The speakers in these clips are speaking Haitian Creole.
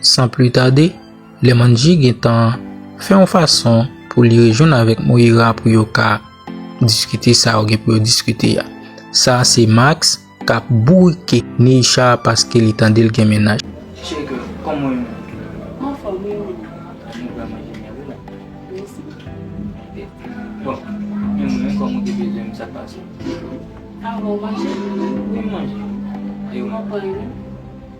San pli tade, Lemanji gen tan fè yon fason pou li rejwenn avèk Moira pou yo ka diskite sa yo gen pou yo diskite a. Sa a se Max k ap bourike Neisha paske li tande l gen mennaj. Cheri girl, kòman ou ye menm? M anfòm wi, e ou menm? Nou pral manje miyò wi la. Mèsi. Ok. Bon, men mwen menm kòm ou te bezwen m, sa k pase? Anvan ou manje? Wi, m manje. E ou menm? M anfòm wi.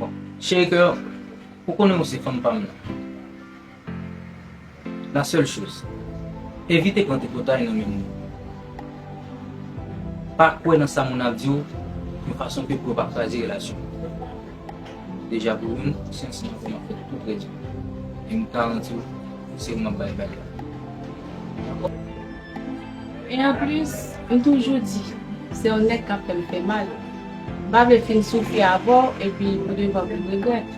Bon Chéri kè ou konnen ou se fanm pam nan La seule chose Evite pran tripotay nan men moun Pa kwè nan sa moun ap di w yon fason ke pou yo pa kraze relasyon nou Deja pou youn ou se yon sima fè map fè tout pou rèd yo e m garanti w se ou map bay bag la Dakò? E anplis, m toujou di, se yon nèg k ap fè m fè mal. M pa vle fin soufri avè w epi pou devan pou m regrèt.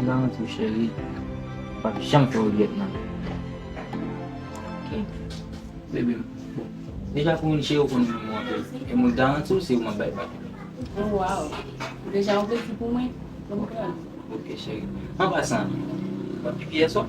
Nan tou cheri, m p ap janm fè w regrèt nan. Ok. Bebe m, bon, deja pou moun cheri ou konn renmen m anpil. E mwen garanti w se ou m ap bay bak. O waww. Deja ou te di pou mwen? Konprann. Ok cheri. An pasan, w ap pipi yè swa?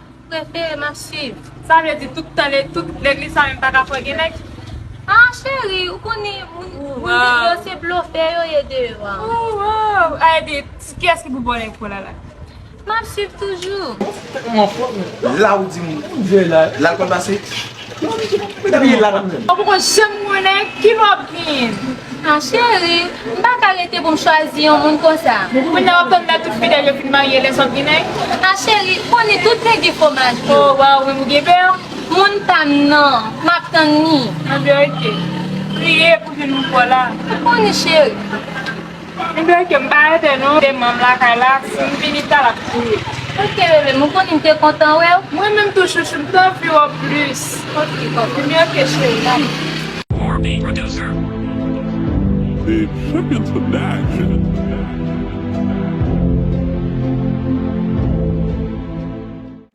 Prefere map swiv. Sa vle di tout tan tout legliz sa yo m paka fwe gen nèg? Haa cheri ou konnen moun vin yo se blofè yo ye deyò an. Ooh a epi kiyès ki pou bò nèg pou lala. Map swiv toujou. Lawdi moun lal kol pase. Ou poko janm konnen ki lwa wap genyen. Ah cheri, m pa ka rete pou m chwazi yon moun konsa. Kounya wap tann lè tout fidèl yo fin marye lè sa wap gen nèg. Ah cheri, koni tout nèg gen fwomaj vre. Oh waw men ou gen beurre. Moun pam nan, map tann li. Anbyen ok. Priye pou vin moun paw la. Koni cheri. Mdwe kem pa rete non gen manm lakay la sim vini ta lap kriye. Ok bebe m ou konnin m te kontan wew. Mwen menm tou chouchou m t anvi w plus. Ok konfime ok cheri dale.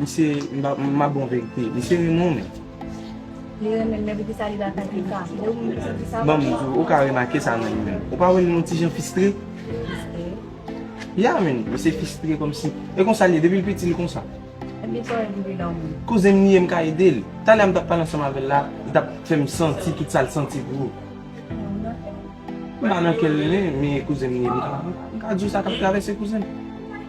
Misye map bon verite. Misye renmen w men. Li renmen m men poukisa li lakay Pika? Ou menm ki santi sa? Banm di w, ou ka remake sa nan li menm. Ou pa wè li yon ti jan fistre? Fistre? Ya men, misye fistre kòmsi. E konsa li ye depi l piti li konsa? Epi sa w wè depi lò menm? Kouzen m li ye m ka ede l. Talè a m t ap pale ansanm avè l la, li t ap fè m santi tout sa l santi pou ou. Ou nan kè l? M pa nan kè l men kouzen m li ye m ka di w sa k ap travèse kouzen m.